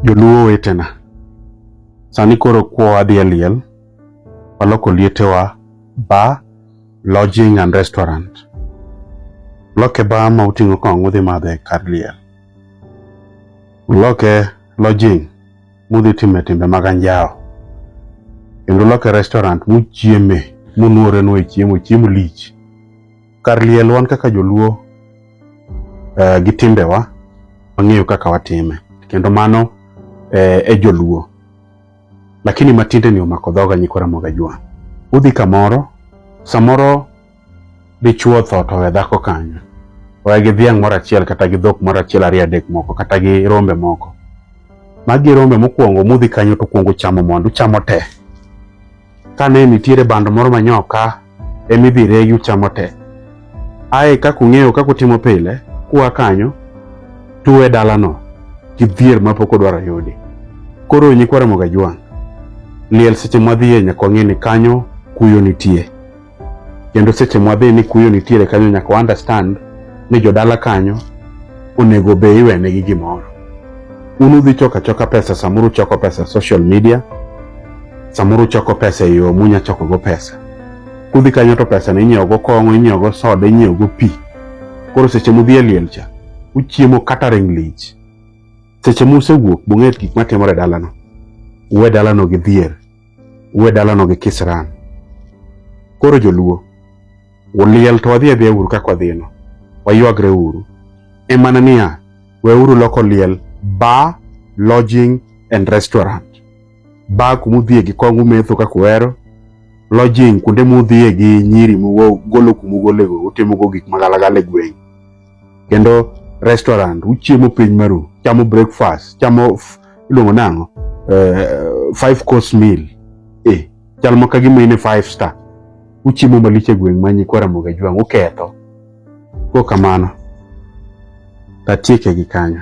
Joluo wetena, sani koro kwowa dhi e liel, waloko lietewa bar, lodging and restaurant. Loke bar ma uting'o kong'o udhi madhe kar liel. Loke lodging mudhi time timbe mag anjawo. Kendo loke restaurant muchieme munuorenue chiemo, chiemo lich. Kar liel wan kaka joluo uh, gi timbewa wang'eyo kaka watime kendo mano eh, e joluo lakini matinde ni omako dhoga nyikwa Ramogi Ajwa. Udhi kamoro samoro dichuo tho to we dhako kanyo oya gi dhiang' moro achiel kata gi dhok moro achiel ariyo adek moko kata gi rombe moko magi rombe mokwongo mudhi kanyo to kwongo chamo mondo uchamo tee kane nitiere bando moro manyoka ema idhi regi uchamo te. Ae kaka ung'eyo kaka utimo pile, kua kanyo tuwe dalano kidhier mapok odwaro yudi. Koro nyikwa Ramogi Ajwang', liel seche mwadhiye nyaka wang'e ni kanyo kuyo nitie. kendo seche mwadhi ni kuyo nitiere kanyo nyaka understand ni jodala kanyo onego be iwenegi gimoro un udhi choko achoka pesa samoro uchoko pesa social media samoro uchoko pesa e yo munya chokogo pesa kudhi kanyo to pesa ni inyiewogo kong'o inyiewogo soda inyiewogo pi koro seche mudhi e liel cha uchiemo catering lich seche musewuok bung'e gik matimore dalano uwe dalano gi dhier uwe dalano gi kisran. Koro joluo, uliel to wadhi adhiya uru kaka wadhino, waywagre uru. E mana niya, weuru loko liel bar, lodging and restaurant. Bar kuma udhiye gi kong umetho kaka uhero, lodging kuonde mudhiye gi nyiri mugolo kuma ugolego utimogo gik magalagala e gweng'. kendo restaurant uchiemo piny maru chamo breakfast chamo iluongo nang'o uh, five course meal eh, chal ma kagima ine five star uchiemo malich e gweng' manyi kwa Ramogi Jwang' uketho ko kamano tatieke gi kanyo